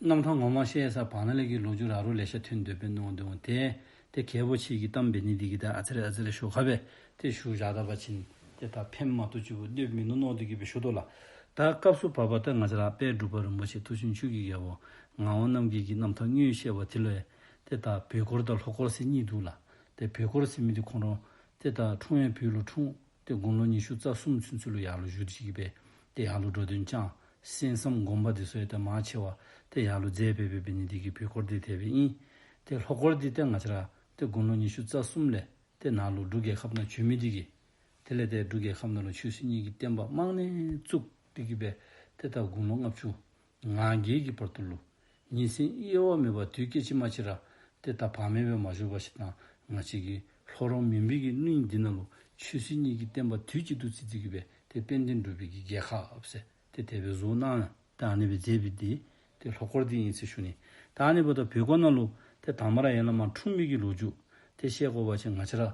རྣམ་གྲངས་ངོ་མ་བཤད་ས་བག་ན་ལེགས་ཀྱི་ལོ་ཇུ་རག་རུ་ལས་ཤ་ཐུད་འདོད་པའི་ནོ་འདོད་འོ་དེ་དེ་གལ་པོ་ཆེ་གི་གཏམ་བེ་ནི་དི་གི་དེ་ཨ་ཚེ་རེ་ཨ་ཚེ་རེ་ཤོ་ཁ་བེ་དེ་ཤུ་ཞག་ད་བ་ཆིན་དེ་ད་ཕེམ་མ་ཏོ་ཅི་བུ་འདོད་མི་ནོ་ནོ་དི་གི་བེ་ཤུ་ཏོ་ལ་ད་སྐབས་སུ་བབ་པ་ཏི་ང་ཚེ་རག་པས་འབྲུག་པ་རིན་པོ་ཆེ་ཐུགས་ཤིན་ཆུ་གི་གལ་བོ་ང་འོ་རྣམ་གིས་གི་རྣམ་ཐག་སྙུན་བཤད་བ་དི་ལོ་ཨེ་དེ་ད་བེ་ཀོར་ད་ལྷོ་ཀོར་སི་གཉིས་འདུག་ལ་དེ་བེ་ཀོར་སི་མི་དི་ཁོང་རོ་དེ་ད་འཁྲུངས་ཨེ་བུ་ལོ་འཁྲུངས། དེ་དགུང་ལོ་ཉི་ཤུ་རྩ་གསུམ་ཚུན་ཆུ་ལུ་ཡག་ལོ་བཞུ་བྱེད་ཀྱི་པས་དེ་ཡག་ལོ་འགྲོ་དོན་བསྐྱངས། གསན་བསམ་བསྒོམ་པ་དེ་སོས་དལ་མ་ཆེ་བ། དེ་ཡག་ལོ་མཛད་པས་བོད་པའི་ཉིན་དེ་གི་བུ་འཁོར་འདི་དལ་བའི་དབྱིན། དེ་ལྷོ་འཁོར་འདི་སྟེ་ང་ཆ་ར། དེ་དགུང་ལོ་ཉི་ཤུ་རྩ་གསུམ་ལས། དེ་ནང་ལོ་འབྲུག་རྒྱལ་ཁབ་ན་ཆུ་མི་འདི་གི། དེ་ལས་དེ་འབྲུག་རྒྱལ་ཁབ་ན་ལོ་ཆུ་སྲིད་གཉིས་ཀྱི་བསྟན་པ་རྨང་ནས་བཙུགས་འདི་གི་པས་དེ་ད་དགུང་ལོ་ལྔ་བཅུ། ང་རྒྱལ་གྱི་བར་དུ་ལུས། གཉིས་སེམས་དབྱེ་བ་མེད་པར་དུས་སྐད་ཅིག་མ་ཕྱིར་ར། དེ་ལྟར་བག་མེད་པས་མ་བཞུགས་པ་ཞིག་དང་ང་གཅིག་གིས། ལྷོ་རོང་མི་འབིགས་ཀྱི་གླིང་འདི་ན་ལུས། ཆོས་སྲིད་གཉིས་ཀྱི་བསྟན་པ་དུས་གཅིག་ཏུ་བརྩི་བརྩི་གི་བས་དེ་དཔལ་ལྡན་འགྲོ་བི་གི་རྒྱལ་ཁག་བས། དེ་དད་པའི་གཟུགས་སྣང། དེ་ཨ་ནེ་བའི་རྫས་བི་དེ། དེ་ལྷོ་སྐོར་དེ་ཡིན་ཚེ་ཤུ་ནི། དེ་ཨ་ནེ་བ་དང་བི་སྐོར་ན་ལུས། དེ་དྭངས་མ་ར་ཡན་ལ་མ་འཁྲུངས་མིག་གི་ལུས་འཇུག། དེ་ཤེལ་སྐོར་བ་ཆེ་ང་ཕྱིར་ར།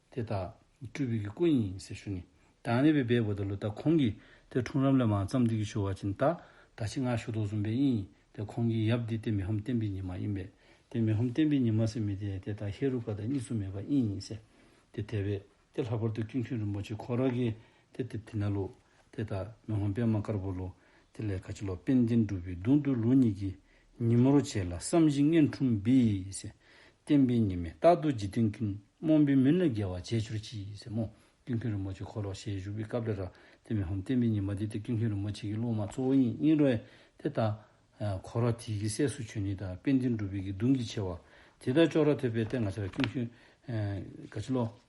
དེ་དག་སྤྲུལ་བའི་སྐུ་ཡིན་ཟེར་ཞུ་ནི། དང་ནི་བའི་སྦས་བུ་དང་ལུས་རྟགས་ཁོང་གིས་དེ་འཁྲུངས་རབས་ལས་མ་བརྩམས་དུས་ཀྱི་ཆོས་བར་གྱི་ཟླ། ད་ཕྱིས་སྔ་གཞུག་ཏུ་གསུངས་པའི་དབྱིན་ཡིག་དེ་ཁོང་གིས་ཡབ་འདི་སྟེ་མི་ཧམ་བསྟན་པའི་ཉི་མ་ཡིན་པས་དེ་མི་ཧམ་བསྟན་པའི་ཉི་མ་ཟེར་མི་དེ་དེ་དང་ཧེ་རུ་ཀ་དང་གཉིས་སུ་མེད་པ་དབྱིན་ཡིན་ཟེར། དེ་དལ་བས་དེ་ལྷག་པར་དུ་ཀུན་མཁྱེན་རིན་པོ་ཆེ་ཁོ་རང་གིས་དེ་དེ་དེ་ན་ལོ། དེ་ལྟར་མེ་ལྷོ་པདྨ་དཀར་པོ་ལོ། དེ་ལས་ཁ་ཆེ་ལོ་པཎ་ཆེན་སྒྲུབ་པའི་གདུང་འདུལ་ལོ་གཉིས་ཀྱི་ཉིན་མོར་བྱས་ལ་བསམ་བཞིན་མངལ་ཕྲུམ་བིས། བསྟན་པའི་ཉི་མས་རྟག་ཏུ་འཇིག་རྟེན་ཀུན། རྨོངས་པའི་མུན་ལས་རྒལ་བར་བྱས་གྱུར་ཅིག། རྨོངས། ཀུན་མཁྱེན་རིན་པོ་ཆེ་འཁོར་ལོ་ཞལ་བཞུགས་པའི་སྐབས་རེ་ར། དེ་མེ་ལྷོ་བསྟན་པའི་ཉི་མ་དེ་སྟེ་ཀུན་མཁྱེན་རིན་པོ་ཆེ་གི་སློབ་མ་གཙོ་བོ་ཡིན་ཡིན་རེད། དེ་ལྟ། འཁོར་བ་དེའི་གི་སྲས་སུ་ཆོས་ཉིད་དང་དཔལ་ལྡན་སྒྲུབ་པའི་གི་གདུང་གི་ཆེ་བ། དེ་ལྟར་ཅོག་ར་ཐོད་པའི་སྟེང་ཁ་ཆེ་ལོ་ཀུན་མཁྱེན། ཁ་ཆེ་ལོ།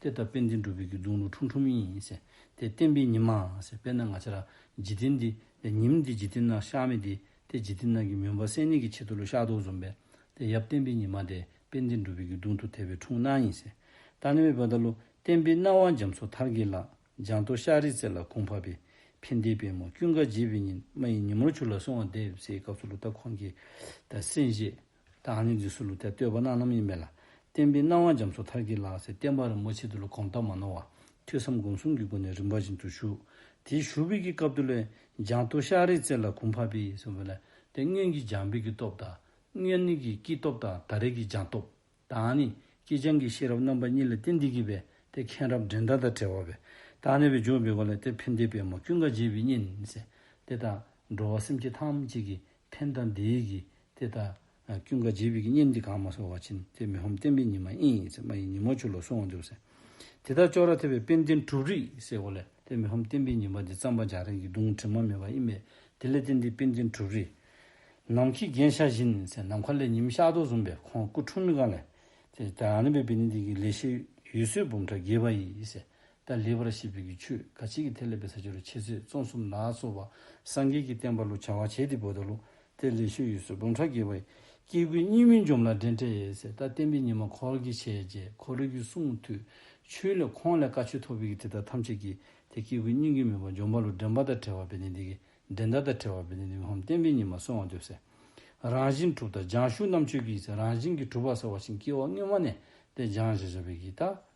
དེ་ལྟར་དཔལ་འཛིན་གྲུབ་པའི་རྒྱུད་རྫོང་ལུགས་ཁྲུམ་ཁྲུམ་ཡིན། དེ་བསྟན་པའི་ཉི་མ། དཔེར་ན་ང་ཅག་ལ། འཇིག་རྟེན་འདི། ཉིམ། འདི་འཇིག་རྟེན་ནང་བཤགས་མེད་དེ། དེ་འཇིག་རྟེན་ནང་གི་མུན་པ་སེལ་ནུས་ཀྱི་ཆེད་དུ་ལུས་བཤགས་དུག་འཇོམས་པས། དེ་ཡབ་བསྟན་པའི་ཉི་མ་དེ། དཔལ་འཛིན་གྲུབ་པའི་རྒྱུད་རྫོང་དུ་ཐལ་བའི་འཁྲུངས་སྣང་ཡིན། ད་ནི་མེ་འབར་ད་ལོ། བསྟན་པའི་སྣང་བ་འཇམ་སོགས་མཐར་དགེ་ལགས། ལྗང་མདོག་ཤར་རིའི་རྩེ་ལ་གུང་བར་པའི། ཕན་བདེའི་དཔལ་མོ་ཀུན་དགའ་བརྗིད་པའི་ཉི། མ་ཡི་ཉིན་མོར་བྱུར་ལ་སོང་བ་འདེབས། སའི་སྐབས་སུ་ལོ་ཏཱ་ཁོང་གིས། ད་སེམས་ཤེས། ད་ཧ་ནི་རྫི་སུ་ལུ་ཐའི་བསྟོད་པ་གནང་རྣམ་ཡིན་པས་ལ། བསྟན་པའི་སྣང་བ་འཇམ་སོ་ཐར་གྱིས་ལགས་སེ་བསྟན་པ་རིན་པོ་ཆེ་འདི་ལོ་གོང་ལྟར་མ་ནོར་བར་ཐོས་བསམ་སྒོམ་གསུམ་གྱི་སྒོ་ནས་རིམ་པ་བཞིན་དུ་བཞུགས། དེའི་བཞུགས་དཔེ་ཀྱི་སྐབས་དུ་ལོའི་འཇང་སྟོད་ཤར་རིའི་རྩེ་ལ་གུང་ཕ་བི་སེ་བ་ལ་ཏེ་སྔོན་གྱི་འཇང་བི་གི་སྟོབས་དང། སྔོན་ནི་གི་སྐྱིད་སྟོབས་དང་ད་རེས་ཀྱི་འཇང་སྟོབས། ད་ཧ་ནི་སྐྱིད་འཇང་གི་ཤེས་རབ་རྣམ་པ་གཉིས་ལ་ཏེ་འདི་གི་བས་ཏེ་མཁན་རབ་འབྲིང་ད་དང་བྲལ་བ་བས་ད་ཧ་ནི་བའི་འཇོག་བི་བ་ལ་ཏེ་བྷི་མདའི་པད་མོ་ཀུན་དགའ་རྗེས་བི་སྙེད་ནས་སེ་དེ་དང་འགྲོ་བ་སེམས་བསྐྱེད་ཐམས་ཅད་ཀྱི་ཕན་དང་བདེའི་གིས་ཏེ་ད། ཀུན་དགའ་བྱེད་བིད་ཀྱི་སྙེམས་ཀྱིས་གང་མ་སོ་བ་ཕྱིན་ཏེ་མི་ཧོམ་བསྟན་པའི་ཉི་མ་ཨིན་ཡིག་ཚད་མ་ཡི་ཉིན་མོ་ཆུ་ལོག་སོང་བ་འདུག་ཟེར། དེ་དག་ཅོག་ར་ཐེབས་པའི་དཔེ་འདི་འབྲུ་རིགས་ཟེར་གོ་ལེ་ཏེ་མི་ཧོམ་བསྟན་པའི་ཉི་མ་འདི་རྩམ་པ་འཇག་རིང་གི་རྡུང་དྲི་མ་མེད་པ་ཨི་མེད་དེ་ལས་ཏེ་འདི་དཔེ་འདི་འབྲུ་རིགས། ནམ་མཁའི་རྒྱན་ཤ་བཞིན་ཟེར་ནམ་མཁའ་ལས་ཉི་མི་ཤར་དོགས་བཟུང་པས་ཁོང་སྐུ་འཁྲུངས་མི་གང་ལེ། ཏེ་ད་རང་རིམ་པའི་དཔེ་འདི་འདི་གི་ལས་ཤེས་ཡུལ་སྲོལ་འབུམ་ཕྲག་བརྒྱད་པ་ཡིས་ཟེར། ཏཱ་ལའི་བར་ཞེས་པའི་ཀྱི་ཆོས་ག་ཅིག་གིས་ཐེག་ལེ་པའི་ས་ཆ་རུ་ཆེ་ཚད་བཙོང་གསུམ་ནག་གསོ་བ་སངས་རྒྱས་ཀྱི་བསྟན་པ་ལུགས་བྱ་བ་བྱས་ཏེ་བོད་ད་ལུགས་ཐེག་ལེ་ཤུལ་ཡུལ་སོ་བུམ་ཕྲག་བརྒྱད་པའི་སྐྱེ་དགུའི་གཉིས་མེད་འཇོམས་ལ་འབྲེལ་འཕྲད་ཡས་ཟད་ལྟར་བསྟན་པའི་ཉི་མ་འཁོར་གྱི་བྱས་རྗེས་འཁོར་རིགས་ཀྱི་གསུང་མཐུས་ཆོས་ལས་ཁོང་ལས་བཀའ་ཆོས་ཐོབ་པའི་ཀྱི་དེ་དག་ཐམས་ཅད་ཀྱིས་དེ་སྐྱེ་དགུའི་སྙིང་གི་མོས་པ་འཇོམས་པ་ལུགས་འདྲེན་པ་དང་བྲལ་བ་བས་ནི་འདི་ཀྱི་འདྲེན་ཟླ་དང་བྲལ་བ་བས་ནི་འདི་ཀྱི་ཧོམ་བསྟན་པའི་ཉི་མ་སོང་བ་འདོད་ཟེར། རང་བཞིན་གྲུབ་དང་སྦྱང་གཞུག་རྣམ་ཆོས་ཀྱི་ཡས་ཟད་རང་བཞིན་གྱི་གྲུབ་པ་ཟེར་བ་བཞིན་སྐྱེ་བ་སྔོན་མ་ནས་དེ་སྦྱངས་བྱས་བྱ་བའི་ཀྱི་དག་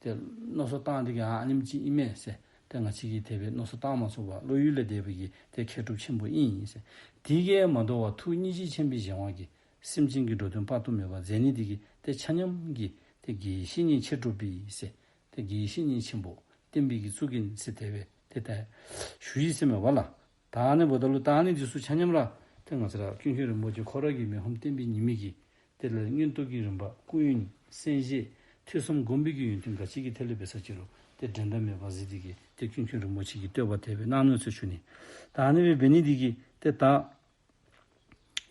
དེ་རྣོ་སོ་བཏང་དེ་གང་ཨཱ་ནིམ་ཅི་ཨི་མས་སེ། དེ་ང་ཕྱི་ཀྱི་དེ་བས་རྣོ་སོ་བཏང་མ་ཚུགས་པར་བློ་ཡུལ་ལས་འདས་པ་ཡི་དེ་མཁས་གྲུབ་ཆེན་པོ་དབྱིངས་ཡིན་སེ། དེ་ཀས་མ་འདོར་བར་ཐུགས་གཉིས་གཅིག་ཆེན་པོའི་གཞན་དབང་གིས། སེམས་ཅན་གྱི་འགྲོ་དོན་དཔག་ཏུ་མེད་པར་མཛད་ནི་དེ་ཀྱི་དེ་ཆ་མཉམ་གྱིས། དེ་དགེ་བཤེས་གཉིས་མཁས་གྲུབ་པའི་ཡིན་སེ། དེ་དགེ་བཤེས་གཉིས་ཆེན་པོ་བསྟན་པའི་གྱི་གཙུག་གི་ཡིན་སེ་དེ་བས་དེ་ལྟར། ཞུ་ཡིས་སེམས་མེད་བ་ལ། ད་ནི་བོ་ད་ལོ་ད་ནི་འཇིགས་སུ་ཆ་སྙམ་ར། དེ་ང་ཚེ་རབས་སྐྱོན་ཤོན་རིན་པོ་ཆེ་ཁོ་ར་གི་མེ་ཧོམ་བསྟན་པའི་ཉི་མིག་གིས་དེ་ལས་སྙོན་སྟོབས་ཀྱི་རིམ་པ་ཀུན་ཡོན་གསན་བཞེས་ཐུས་གསུམ་སྒོམ་སྤེལ་གྱི་ཡོན་ཏན་འགའ་ཅི་གི་ཐད་ལས་པའི་ས་བཅད་རུ་དེ་འགྲན་ཟླ་མེད་པར་གཟིགས་དེ་གི་དེ་སྐྱོན་ཤོན་རིན་པོ་ཆེ་གིས་བསྟོད་པ་དད་པའི་སྣང་སྣོད་ཚོལ་ཆུ་ནི། ད་ནི་བའི་བེ་ནི་དེ་གི་དེ་དག།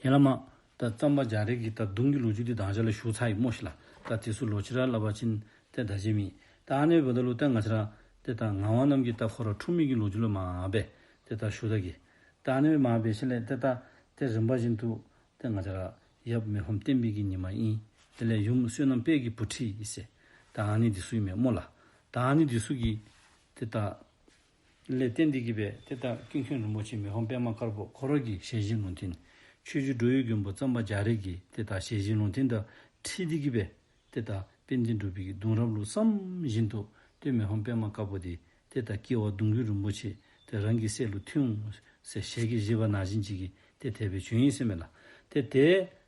ཡན་ལག་མ། ད་རྩམ་པ་འཇའ་རིགས་ཀྱི་ད་གདུང་གི་ལོ་རྒྱུས་འདི་དྭངས་ཆ་ལ་ཞུགས་ཚ་ཡི་རྨོ་ཞིག་ལ། ད་དེ་སུ་ལོ་ཕྱི་ར་ལ་བ་ཅིན། ད་ད་ཇེ་མི། ད་ཨ་ནེ་བོ་ད་ལུ་ད་ང་ཕྱི་ར། དེ་ད་ང་བང་རྣམས་ཀྱི་ད་ཁོ་ར་ཁྲུ་མིག་གི་ལོ་རྒྱུས་ལ་མ་ཨ་བེ། དེ་ད་ཞུ་ད་གི། ད་ཨ་ནེ་བེ་མ་ཨ་བེ་ཤེ་ལེ་དེ་ད། དེ་རིམ་པ་བཞིན་དུ། དེ་ང་ཕྱི་ར། ཡབ་མེ་ཧོམ་བསྟན་འཕེལ་གྱི་ཉི་མ་ཨིན། དེ་ལས་ཡུམ་བསོད་ནམས་དཔལ་གྱི་བུ་ཁྲི་ཨི་སེ། ད་ཨ་ནེ་འདི་སུ་ཡི་མེ་རྨོ་ལ། ད་ཨ་ནེ་འདི་སུ་གི། དེ་ད། ལས་བསྟན་འདི་བགྱིས་པས་དེ་ལྟར་སྐྱིན་ཁྱོད་རིན་པོ་ཆེ་མི་ཧོམ་པད་མ་དཀར་པོ་འཁོར་རོལ་གྱི་ཞལ་བཞེས་ལུང་བསྟན། ཆོས་རྒྱུད་འགྲོ་ཡུལ་མགོན་པོ་ཙམ་པ་རྒྱ་རིགས་ཀྱིས་དེ་ལྟར་ཞལ་བཞེས་ལུང་བསྟན་དང་ཁྲིད་འདི་བགྱིས་པས་དེ་ལྟར་དཔལ་ལྡན་གྲུབ་པའི་གདུང་རབས་ལུགས་བསམ་བཞིན་དུ་སྟོན་མི་ཧོམ་པད་མ་དཀར་པོ་དེས་དེ་ལྟར་བགྱི་བར་གདུང་རྒྱུད་རིན་པོ་ཆེ་དེ་རང་གི་སྲས་ལུགས་མཐུན། ཞལ་གྱིས་བཞེས་པ་ན་བྱིན་ཅིག་གིས་དེ་དད་པའི་བྱོན་ཡིན་སེམས་མེད་ལ། དེ་དད།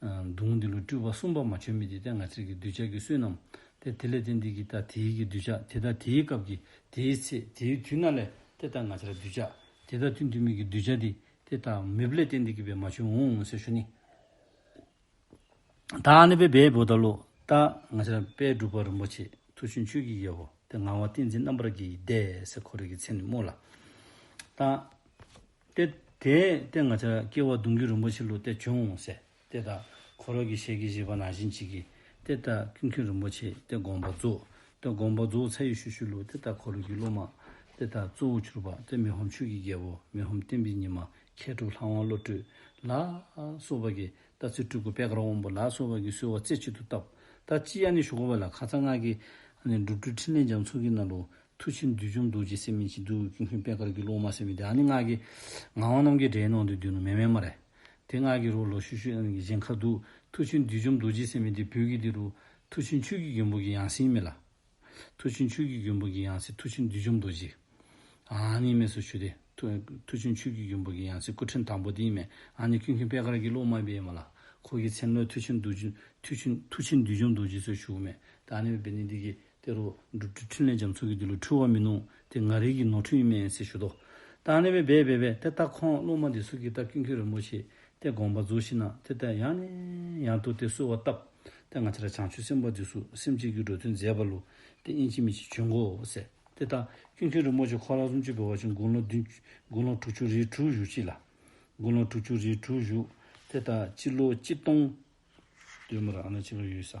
མདུང་འདི་ལོ་སྤྲུལ་པ་གསུམ་པ་མ་བྱོན་མི་དེ་ལྟའི་ངར་ཚིག་གི་གདུལ་བྱ་གི་བསོད་ནམས་ཏེ་དེ་ལས་དེ་འདི་གི་ལྟ་དེའི་གི་གདུལ་བྱ་དེ་ལྟ་དེའི་སྐབས་ཀྱི་དེའི་ཚེ་དེའི་དུས་ན་ལས་དེ་ལྟར་ངར་ཚར་གདུལ་བྱ་དེ་ལྟ་དུས་འདུལ་མི་གི་གདུལ་བྱ་དེ་དེ་ལྟ་མི་བ་ལས་དེ་འདི་གི་བས་མ་བྱོན་འོང་ངོ་ཟེར་ཞུ་ནི། ད་ནི་བས་བས་བོ་ད་ལོ་ལྟ་ངར་ཚར་པས་སྒྲུབ་པ་རིན་པོ་ཆེ་ཐུགས་ཆུན་ཆོས་ཀྱི་དབྱེ་བ་དེ་ངང་བ་ཏིང་འཛིན་རྣམ་པར་རྒྱལ་གྱི་བཟླས་སེ་འཁོར་རིགས་ཀྱི་ཚེ་ནི་སྨོས་ལ། ལྟ། སྟེ། དེས་སྟེ་ང་ཅག་སྐྱེ་བ་གདུང་རྒྱུད་རིན་པོ་ཆེ་ལུགས་དེ་བྱུང་ངོ། སྟེ་ད་གོ་རོ་གྱི་ཤེལ་གྱི་བཞི་པ་ནང་བཞིན་བྱེད་ཀྱི། སྟེ་ད་ཀུན་མཁྱེན་རིན་པོ་ཆེས་དེ་དགོངས་པ་རྫོགས། སྟེ་དགོངས་པ་རྫོགས་ཚད་ཡུལ་ཤུལ་ཤུལ་ལུགས་སྟེ་ད་གོ་རོ་གྱི་ཀླུ་དམག། སྟེ་ད་གཙོ་བོ་གྱུར་པ་སྟེ་མི་ཧོམ་ཆོས་ཀྱི་རྒྱལ་པོ་མི་ཧོམ་བསྟན་པའི་ཉི་མ་མཁས་གྲུབ་ལྷ་དབང་བློ་གྲོས་ལ། སོགས་པ་ཀྱིས་ད་ཚེ་སྤྲུལ་སྐུ་པད་དཀར་དབང་པོ་ལ་སོགས་པ་ཀྱིས་གསོལ་བ་རྩེ་གཅིག་ཏུ་བཏབ། ད་ཅི་ཡ་ནི་ཞུ་གོ་བ་ལ་ཁ་ཚ་སྔགས་ཀྱི། སྒྲུབ་གྲོལ་ཕྲིན་ལས་རྒྱ་མཚོ་གྱི་རྣམ་རོལ། མཐུ་ཆེན་བདུད་འཇོམས་རྡོ་རྗེ་སེམས་མི་འཆི་བདུད་འོད་ཀྱི་སྔོན་དཔལ་དཀར་གྱི་གློག་མ་སེར་མོ་དེ་ཨ་ནི་སྔགས་ཀྱི། ངག་དབང་ནམ་མཁའི་སྒྲའི་ནང་དུ་བསྡུས་ནོ་མེ་མེ་མ་རེ། དེ་སྔགས་ཀྱི་རོ་ལོ་ཤུ་ཤུ་ཨ་ནི་གཞན་ཁ་བདུག། མཐུ་ཆེན་བདུད་འཇོམས་རྡོ་རྗེ་སེམས་མི་འདི་བུ་གི་འདི་རུ། མཐུ་ཆེན་ཆོས་ཀྱི་རྒྱུན་བུ་གི་ཡང་སྲིན་མི་ལ། མཐུ་ཆེན་ཆོས་ཀྱི་རྒྱུན་བུ་གི་ཡང་སྲིན་མཐུ་ཆེན་བདུད་འཇོམས་རྡོ་རྗེ། ཨ་ནི་མེ་སོ་ཤུ་དེ། མཐུ་ཆེན་ཆོས་ཀྱི་རྒྱུན་བུ་གི་ཡང་སྲིན་སྐུ་ཕྲེང་དང་པོ་དེའི་མེ་ཨ་ནི་ཀུན་མཁྱེན་དཔལ་དཀར་གྱི་གློག་མ་པའི་མ་ལ། འཁོར་གྱི་མཚན་བློས་མཐུ་ཆེན་བདུད་འཇོམས་རྡོ་རྗེ་སོགས་ཞུགས་མེད་དེ་ཨ་ནི་བི་ནི་འདི་གི། དེ་རུ། འགྲུབ་ཀྱི་འཕྲིན་ལས་འཇམ་ཚུགས་ཀྱིས་འདི་ལོ་འཁྲུལ་བ་མི་གནོང། དེ་ང་རིགས་ཀྱི་ནོར་འཁྲུལ་ཡིན་མིན་སྲིད་ཞུ་དོ། བདག་ནི་བས་བས་བས་བས་དེ་ལྟ་ཁོང་བླུན་མ་འདི་སུ་གིས་བཏབ་ཀྱིན་ཁྱོད་རིན་པོ་ཆེས་དེ་དགོངས་པ་རྫོགས་ཤིག་ན་དེ་ལྟ་ཡང་ནས་ཡང་དུ་དེ་གསོལ་བ་བཏབ། དེ་སྔ་ཕྱི་ར་བྱང་ཆུབ་སེམས་དཔའ་འདི་སུ་སེམས་གཅིག་གིས་འགྲོ་དོན་མཛད་པ་ལུ་དེ་དབྱིན་ཅིག་མི་ཅིག་བྱོན་གོ་ཟེར། དེ་ལྟ་ཀྱིན་ཁྱོད་རིན་པོ་ཆེ་ཁོ་ལག་སུམ་ཅུ་བོད་བར་ཆུ་དགུང་ལོ་བདུན། དགུང་ལོ་དྲུག་ཅུ་རེའི་གྲུ་བཞུགས་ཅིག་ལ། དགུང་ལོ་དྲུག་ཅུ་རེའི་གྲུ་བཞུགས། དེ་ལྟ་སྤྱི་ལོ་སྤྱི་སྟོང། སྟོན་མོ་ར་ཨ་ན་སྤྱི་ལོ་ཡོད་ས།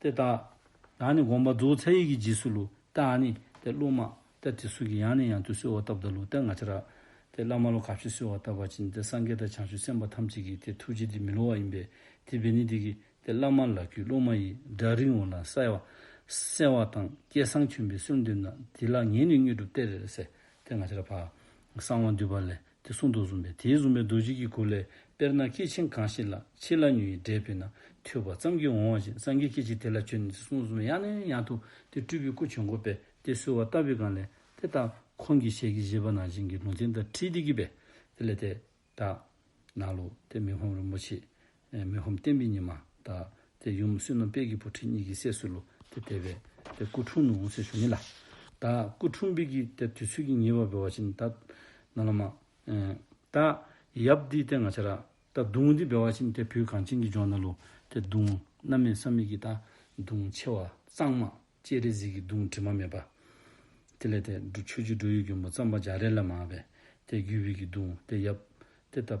ཏེ་བཏགས། ཡང་ནི་དགོངས་པ་རྫོགས་ཚད་ཡི་གེ་འཇིགས་སུ་ལུ། ཏེ་ཨ་ནི། ཏེ་ཀླུ་མ། ཏེ་དྲི་གསུ་གི་ཡང་ནི་ཡང་དུ་གསོལ་བ་བཏབ་བདག་ལུ་ཏེ་ང་ཅི་ར། ཏེ་བླ་མ་ལོ་ག་བཞི་གསོལ་བ་བཏབ་བ་བྱིན་ཏེ་སངས་རྒྱས་དང་བྱང་ཆུབ་སེམས་དཔའ་ཐམས་ཅད་ཀྱིས་དེ་ཐུགས་རྗེ་འདི་མི་སླུ་བ་ཡིན་པས་དེ་བས་ནི་འདི་གི། ཏེ་བླ་མ་ལ་གུས་སློབ་མ་ཡི་སྒྲ་རིང་བ་ལ་གསལ་བ། གསལ་བ་དང་སྐད་གསང་ཁྱོད་པའི་གསུང་འདི་ན་དེ་ལ་ངས་ནི་དངོས་གྲུབ་སྟེར། ཏེ་ང་ཅི་ར། བ་གསང་བ་འདུས་པ་ལས་དེ་གསུང་དུ་བཟུང་བས་དེའི་བཟུང་བའི་རྡོ་རྗེ་ཀྱི་གུར་ལས་དཔེར་ན་སྐྱེས་ཆེན་གང་ཞིག་ལ་ཕྱི་ལ་ཉུལ་ཡིས་འདྲེས་པས་ན་ཐོས་པ་ཙམ་གྱིས་འོང་བ་བཞིན་སངས་རྒྱས་སྐད་ཅིག་དེ་ལ་ཁྱོད་ནི་དེ་གསུང་དུ་བཟུང་བས་ཡང་ནས་ཡང་དུ་དེ་སྤྲུལ་པའི་སྐུ་བྱོན་གོ་བས་དེ་གསོལ་བ་བཏབ་པའི་སྒང་ལས་དེ་ལྟར་ཁོང་གིས་ཞལ་གྱི་བཞེས་པ་ནང་བཞིན་གྱི་ལུང་བསྟན་དང་ཁྲིད་དེ་གྱིས་པས་དེ་ལས་དེ་དག། ནགས་ལུག་དེ་མི་ཕམ་རིན་པོ་ཆེས་མི་ཧོམ་བསྟན་པའི་ཉི་མ་དག། དེ་ཡུམ་བསོད་ནམས་དཔལ་གྱི་བུ་ཁྲིད་གཉིས་ཀྱི་སྲས་སུ་ལུ་དེ་དེ་བས། དེ་སྐུ་འཁྲུངས་ནུབ་འོང་སའི་གཞུང་ཡིན་ལ། ད་སྐུ་འཁྲུངས་འབིགས་ཀྱི་དེར་དུས་ཚོད་ཀྱི་ཉེ་བར་འབོད་བ་བཞིན་ད། ན་ལ་མ། ད། ཡབ་འདི་དེ་ང་ཆ་ར། ད་གདུང་འདི་འབེལ་བ་བཞིན་དེ་བུ་གངས་ཅན་གྱི་ལྗོངས་ན་ལུ། དེ་གདུང། རྣམ་མེད་བསམ་མེད་ཀྱི་ད། གདུང་ཆེ་བ། གཙང་མ། སྤྱན་རས་གཟིགས་ཀྱི་གདུང་དྲི་མ་མེད་པ། དེ་ལས་དེ། མཆོད་བརྗོད་འགྲོ་ཡུལ་གྱོན་པོ་རྩམ་པ་འཇའ་རལ་ལ་མ། དེ་རྒྱུད་བྷིས་ཀྱི་གདུང་དེ་ཡབ། དེ་ད།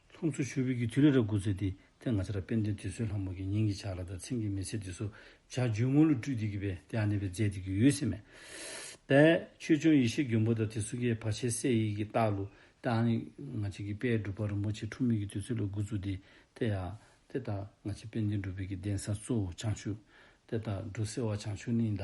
ཚོགས་གཙོ་ཆོས་འཕེལ་གྱིས་དུས་ལས་རབས་དགུ་ཚེས་དེ་ཐད་ང་ཚ་ར་དཔལ་ལྡན་དུས་གསོལ་ལྷ་མོ་གྱི་ཉིན་གྱི་ཕྱག་ལ་དང་མཚན་གྱི་མེ་ཚེ་དུས་སོ་བྱ་རྒྱུའི་དངོས་གླུ་བཀྲུས་འདེགས་ཀྱི་བས་དེ་ཨ་ནེ་བའི་མཛད་འདི་གི་ཡུལ་སེ་མེ། པས། ཆོས་སྐྱོང་ཡེ་ཤེས་མགོན་པོ་དང་དེ་སུ་ཀའི་བ་ཆེ་སེ་ཡིག་གི་སྟག་གླུ། ཏེ་ཨ་ནེ། ང་ཚ་གི་དཔལ་སྒྲུབ་པ་རིན་པོ་ཆེ་འཁྲུངས་མེད་ཀྱི་དུས་ཚོད་ལ་དགུ་བཅུ་དེ་ཐད་ཡ། ཏེ་ད། ང་ཚ་དཔལ་ལྡན་སྒྲུབ་དཔལ་གྱི་གདན་ས་གཙོ་བོ་བྱང་ཆུབ། ཏེ་ད། འབྲུ་སེ་བ་བྱང་ཆུབ་ནི་ད།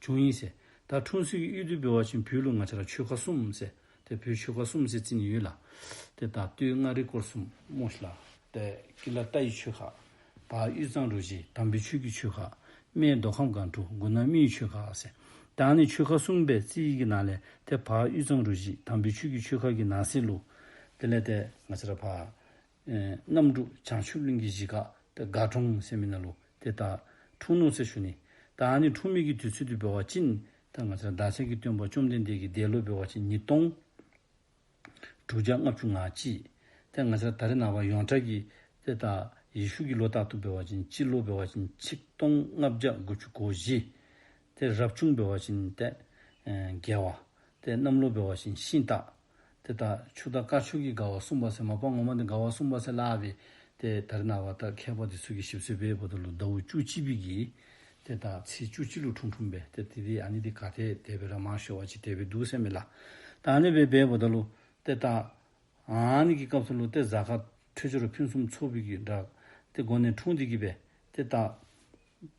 བྱུང་ཡིན། ཟེར། ད་འཁྲུངས་ཟིག་གཡུལ་བདུད་འབོལ་བ་བཞིན་བུའི་ལུག་ང་ཆ་ལ་ཆོལ་ཁ་གསུམ། ཟེར། དེ་བུའི་ཆོལ་ཁ་གསུམ་ཟེར་ཙིན་ཡུལ་ལ། དེ་དང་བསྟུད་མངའ་རིས་སྐོར་གསུམ། མོ་ལ། དེ་ཀི་ལ་རྟ་ཡི་ཆོལ་ཁ། ད་གཡུ་གཙང་རུ་བཞི་དམ་པའི་ཆོས་ཀྱི་ཆོལ་ཁ། སྨད་མདོ་ཁམས་སྒང་དྲུག་མགོ་ནག་མིའི་ཆོལ་ཁ། ཟེར། དང་ནི་ཆོལ་ཁ་གསུམ་པའི་རྩིས་ཡིག་གི་ནང་ལས་དེ་བག་གཡུ་གཙང་རུ་བཞི་དམ་པའི་ཆོས་ཀྱི་ཆོལ་ཁ་གི་ནང་གསེས་ལུགས། དེ་ལས་དེ། ང་ཆ་ལ་བག། རྣམ་དྲུག་བྱང་ཆུབ་གླིང་གི་གཞིས་ཀ་དེ་དགའ་གྲོང་སེམས་མི་ན་ལུ་དེ་ད་འཁྲུངས་ནོ་ཚེ་ཞུ་ནི་ད་ནི་འཁྲུངས་མེད་ཀྱི་དུས་ཚོད་དུ་འབེལ་བ་ཅི་ནི་ད་ང་ཚ་བདག་ཅག་གི་སྟོན་པ་བཅོམ་ལྡན་འདས་ཀྱི་འདས་ལོ་འབེལ་བ་ཅི་ཉིས་སྟོང་དྲུག་བརྒྱ་ལྔ་བཅུ་ང་གཅིག་དེ་ང་ཚ་ད་རི་ན་བ་ཡོངས་གྲགས་ཀྱི་དེ་ད་ཡེ་ཤུ་གི་ལོ་རྟག་ཏུ་འབེལ་བ་ཅི་སྤྱི་ལོ་འབེལ་བ་ཅི་ཆིག་སྟོང་ལྔ་བརྒྱ་དགུ་བཅུ་གོ་བཞི་དེ་རབ་བྱུང་འབེལ་བ་ཅི་ནི་ད་རྒྱལ་བ་དེ་གནམ་ལོ་འབེལ་བ་ཅི་ཤིང་རྟ། དེ་ལྟར་ཕྱུག་དང་དཀར་ཕྱུག་གི་དགའ་བ་བསྲུང་བ་སེ་མ་པ་ངོ་མ་འདི་དགའ་བ་བསྲུང་བ་སེ་ལ་བས་ཏེ་དེར་ན་བ་ལྟར་མཁས་པ་དེ་ཚུལ་གྱི་ཞིབ་གསོས་པས་བོ་ད་ལུ་ཟླ་བུ་བཅུ་གཅིག་པིག་གིས། དེ་དག་ཚེས་བཅུ་གཅིག་ལུག་ཁྲུང་ཁྲུང་བས་ཏེ་དེ་དེ་ཨ་ནི་དེ་ག་དེ་དེ་བས་ར་མ་ཤོ་བ་ཅི་དེ་བས་འདུག་སེ་མེ་ལ་དང་ལེ་བས་བས་བོ་ད་ལུ། དེ་ལྟར་ཨ་ནི་གི་སྐབས་སུ་ལུ་ཏེ་བཟའ་ཁ་འཕྲོད་སྦྱོར་ཕུན་སུམ་ཚོགས་པིག་གིས་འདྲ། དེ་སྒོ་ནས་ཁྲུང་དེ་གིས་བས་ཏེ་ལྟ།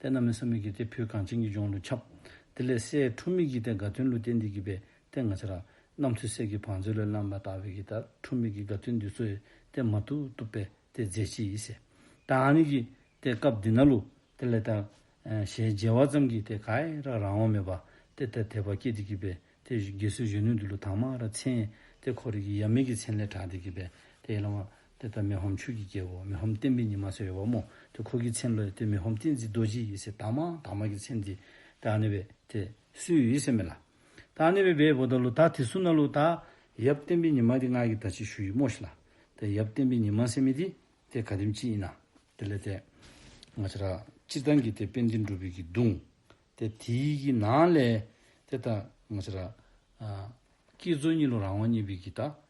དེ་རྣམས་ལས་སམ་མིག་གི་སྟེ་ཕོའི་གངས་ཅན་གྱི་ལྗོངས་ལུས་ཁྱབ། དེ་ལས་སའི་ཁྲོ་མིག་གི་སྟེ་དགའ་སྟོན་ལུས་རྟེན་འདི་བགྱིས་པའི་སྟེ་ང་ཅི་ར། རྣམ་ཐོས་སྲས་ཀྱི་བང་མཛོད་ལས་བླངས་པ་དག་བས་ཀྱི་དག་ཁྲོ་མིག་གི་དགའ་སྟོན་འདི་ཚོའི་སྟེ་མ་ཐུག་བཏུབ་པའི་སྟེ་རྫས་ཅི་ཡིས། དང་ནི་བགྱིས། སྟེ་སྐབས་འདི་ན་ལུ། དེ་ལས་དག། ཞེས་བརྗེ་བ་ཙམ་གྱིས་སྟེ་ག་ཨེ་ར་རང་དབང་མེད་པ། སྟེ་དེར་དད་པ་སྐྱེས་ཏེ་བགྱིས་པའི་སྟེ་དགེ་བསོད་གཞོན་ནུས་འདི་ལུ་དྭངས་མ་ར་མཚན། སྟེ་འཁོར་རིགས་ཀྱི་ཡབ་མེས་ཀྱི་མཚན་ལས་གྲགས་ཏེ་བགྱིས་པའི་སྟེ་ཡེ་ལ་བ། དེ་ལྟར་མི་ཧོམ་ཆོས་ཀྱི་རྒྱལ་པོ་མི་ཧོམ་བསྟན་པའི་ཉི་མ་ཟེར་བའི་བ་མོ་དེ་ཁོ་གིས་ཚེམས་ལ་དེ་མི་ཧོམ་བསྟན་འཛིན་རྡོ་རྗེ་ཡི་སེ་དག་མ་དག་མ་གི་ཚེམས་དེ་དེ་ཨ་ནེ་བས་དེ་སུའི་ཡི་སེ་མེ་ལ་དེ་ཨ་ནེ་བས་བའི་བོ་ད་ལོ་དག་དེ་སུ་ན་ལོ་དག། ཡབ་བསྟན་པའི་ཉི་མ་དེ་སྔགས་ཀྱི་ད་ཅི་ཞུ་ཡི་མོ་ཤི་ལ་དེ་ཡབ་བསྟན་པའི་ཉི་མ་སེ་མེ་དེ་དེ་ག་དེམ་ཅི་ཡི་ན་དེ་ལས་དེ། ང་ཅི་ར་ཅི་ཏང་གི་དེ་དཔེ་འདི་འབྲུ་བུད་ཀྱི་བརྡུང་དེ་དེ་ཡི་གི་ནང་ལས་དེ་ད་ང་ཅི་ར། ཀྱི་ཛོ་གཉིས་ལོ་རང་དབང་གཉིས་བུད་ཀྱི་ད་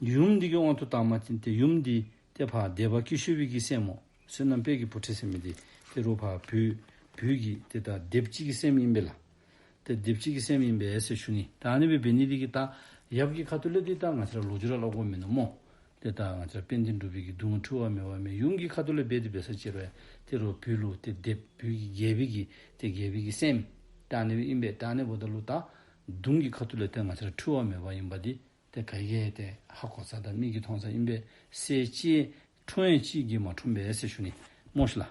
ཡུམ་འདི་ཀྱི་དབང་དུ་བཏང་མ་བྱིན་ཏེ་ཡུམ་འདི་སྟེ་བྷ་དེ་བ་ཀི་ཤོ་བི་ཀི་སེམས་མོ། བསོད་ནམས་དཔལ་གྱི་བུ་ཁྲི་སེམས་མི་དེ་སྟེ་རུ་བྷ་བུ། བུ་ཀི་དེ་ལྟ་སྡེབ་གཅིག་གི་སེམས་ཡིན་པས་ལ། དེ་སྡེབ་གཅིག་གི་སེམས་ཡིན་པས་ཨེ་སེ་ཤུ་ནི་ད་ནི་བི་བི་ནི་དེ་ཀི་ཏཱ། ཡབ་ཀི་ཁ་ཏུ་ལེ་དེ་ལྟ་ང་ཅི་ར་ལོ་ཅི་ར་ལ་གོ་མི་ནུ་མོ། དེ་ལྟ་ང་ཅི་ར་པེ་འདི་འབྲུ་བི་ཀི་དུ་ང་འཁྲུ་བ་མེ་བ་མེ་ཡུམ་ཀི་ཁ་ཏུ་ལེ་བེ་དེ་བེ་སཱ་ཅེར་བས་དེ་རུ་བི་ལུ་དེ་སྡེབ་བུ་ཀི་རྒྱལ་བི་ཀི་དེ་རྒྱལ་བི་ཀི་སེམས། ཏཱ་ནི་བི་ཨིན་པས་ཏཱ་ནི་བོ་ད་ལུ་ཏཱ། དུང་ཀི་ཁ་ཏུ་ལེ་དེ་ང་ཅི་ར་འཁྲུ་བ་མེ་བ་ཡིན་པ་དེ་དེ་ག་ཡེ་ཏེ་ཧ་གོ་ཚ་དང་མིག་གིས་མཐོང་ཚ་ཨིན་པས་སའི་ལྕེའི་ཁྲོ་ཡན་གཅིག་གིས་མ་ཁྲོམ་པས་སའི་ཤུ་ནི་རྨོ་ཤི་ལ།